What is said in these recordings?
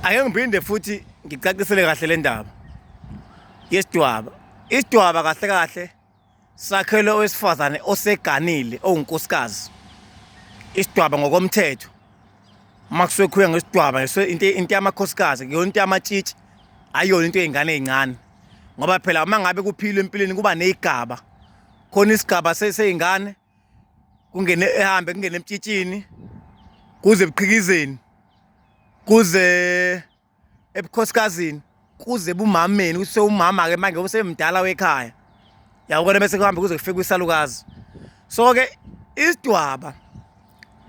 ake ngiphinde futhi ngicacisele kahle le ndaba yesidwaba isidwaba kahle kahle sakhelwe owesifazane oseganile owunkosikazi isidwaba ngokomthetho uma kusuke khuya ngesidwaba into yamakhosikazi kuyona into yamatshitshi ayiyona into yey'ngane ey'ncane ngoba phela uma ngabe kuphilwe empilweni kuba ney'gaba khona isigaba sey'ngane kungene ehambe kungene emtshitshini kuze ebuqhikizeni kuze ebukhosikazini kuze bumameni kuse umama ke manje usemdala wekhaya yawukona bese kuhambe kuze kufike kwisalukazi so ke isidwaba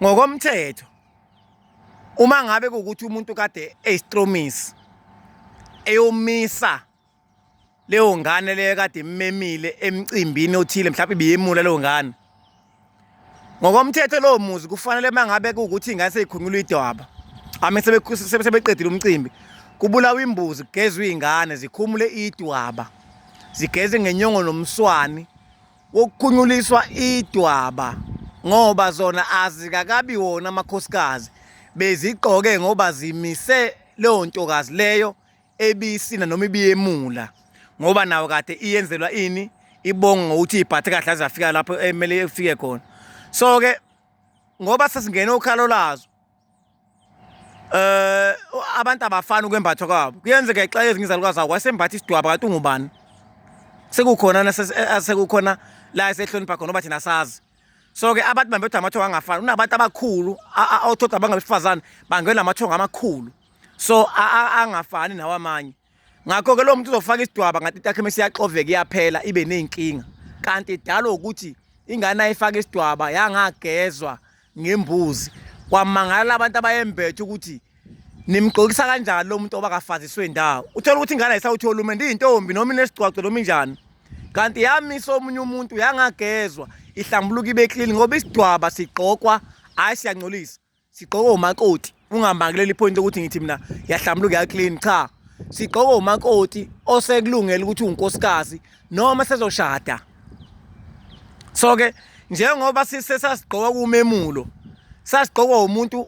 ngokomthetho uma ngabe ukuthi umuntu kade eyistromisi eyomisa leyo ngane leyo kade immemile emcimbini othile mhlawumbe ibiyemula leyo ngane ngokomthetho lowo muzi kufanele uma ngabe kuwukuthi ingane seyikhunqula idwaba ame sebeqedile umcimbi kubulawa imbuzi kugezwe iy'ngane zikhumule idwaba zigeze ngenyongo nomswani wokukhunyuliswa idwaba ngoba zona azikakabi wona amakhosikazi bezigqoke ngoba zimise leyo ntokazi leyo ebisina noma ibiyemula ngoba nawo kade iyenzelwa ini ibonga ngokuthi ibhathe kahle azafika lapho emele eh, ifike khona so ke ngoba sesingene ukhalo lazo eh abantu abafana ukwembathwa kwabo kuyenzeka xa ezinye izalukazi akho wasembatha isidwaba kanti ungubani sekukhona eh, sekukhona la esehlonipha khona oba thina sazi so ke abantu bambethe amathongo angafani unabantu abakhulu othoda abangabesifazane bangena amathongo amakhulu so angafani nawo amanye ngakho ke lo muntu uzofaka isidwaba ngathi itakhe mase yaxoveka iyaphela ibe nezinkinga kanti idalo ukuthi ingane ayifaka isidwaba yangagezwa ngembuzi kwamangala abantu abayembethe ukuthi nimgqokisa kanjani lo muntu obakafaziswe ndawo uthola ukuthi ingane ayisawuthi olumende iyintombi noma inesigcwagco noma injani kanti yamisa omunye umuntu yangagezwa ihlambuluka ibe clean ngoba isidwaba sigqokwa hayi siyancolisa sigqoke umakoti ungambangeleli ipoint ukuthi ngithi mina yahlambuluka ya clean cha sigqoke umakoti osekulungela ukuthi unkosikazi noma sezoshada so ke njengoba sisesasigqoka kumemulo sasigqokwa umuntu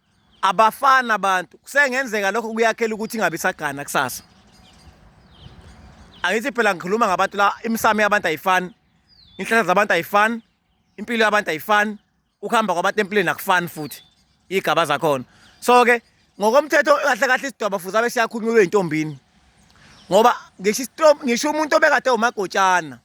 abafana abantu kusengenzeka lokho kuyakhela ukuthi ingabe isagana kusasa angithi phela ngikhuluma ngabantu la imisamo yabantu ayifani inhlahla zabantu ayifani impilo yabantu ayifani ukuhamba kwabantu empilweni akufani futhi igaba zakhona so ke ngokomthetho kahle kahle isidwaba futhi abe siyakhulunywa intombini ngoba ngisho ngisho umuntu obekade umagotshana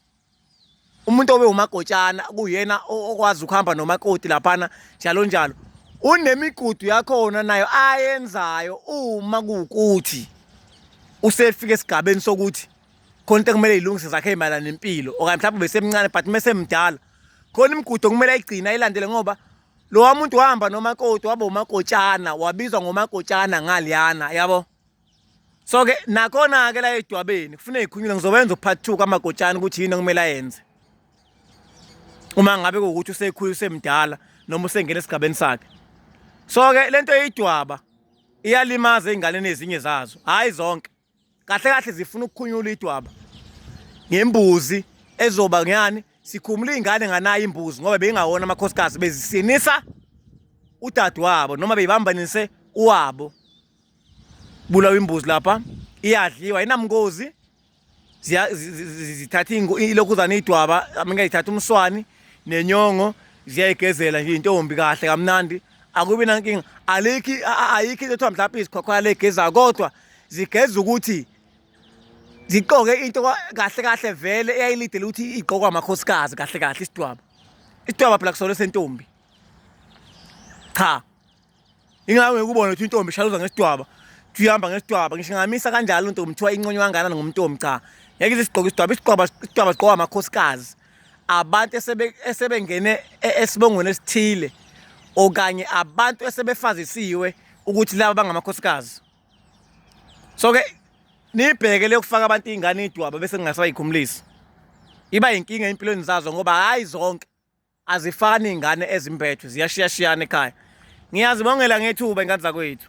umuntu obe umagotshana kuyena okwazi ukuhamba nomakoti laphana njalo njalo unemigudu yakhona nayo ayenzayo uma kuwukuthi usefika esigabeni sokuthi khona into ekumele ilungise zakhe ezimayelana nempilo okanye mhlawumbe besemncane but uma esemdala khona imigudu okumele ayigcine ayilandele ngoba lowa muntu wahamba nomakoti waba umakotshana wabizwa ngomakotshana ngaliyana yabo so ke nakhona ke la edwabeni kufuneka ikhunyule ngizowenza upart 2 kamagotshana ukuthi yini okumele ayenze uma ngabe ukuthi usekhulu usemdala noma usengena esigabeni sakhe so ke lento eyidwaba iyalimaza ingane ezinye zazo hayi zonke kahle kahle zifuna ukukhunyula idwaba ngembuzi ezoba ngani sikhumula ingane nganayo imbuzi ngoba beyingawona amakhosikazi bezisinisa udadewabo noma beyibambanise uwabo bulawa imbuzi lapha iyadliwa inamngozi zithatha ilokhuzane idwaba ingayithatha umswani nenyongo ziyayigezela nje intombi kahle kamnandi akubi nankinga alikhi ayikho into kuthiwa mhlawumbe izikhwakhwaya legeza kodwa zigeza ukuthi ziqoke into kahle kahle vele eyayilidele ukuthi igqokwa amakhosikazi kahle kahle isidwaba isidwaba phela kusona sentombi cha ingako ngikubona ukuthi intombi ishaluza ngesidwaba kuthi uhamba ngesidwaba ngisho ngamisa kanjalo ntombi kuthiwa inconywa kanganani ngomntombi cha ngeke ize isigqoke isidwaba isidwaba isidwaba sigqoka amakhosikazi abantu esebengene e-, esibongweni esithile okanye abantu esebefazisiwe ukuthi laba bangamakhosikazi so ke nibheke lokufaka abantu izingane idwaba bese ngingasayikhumulisi iba inkinga empilweni zazo ngoba hayi zonke azifani iy'ngane ezimbethwe ziyashiyashiyana ekhaya ngiyazibongela ngethuba ingane zakwethu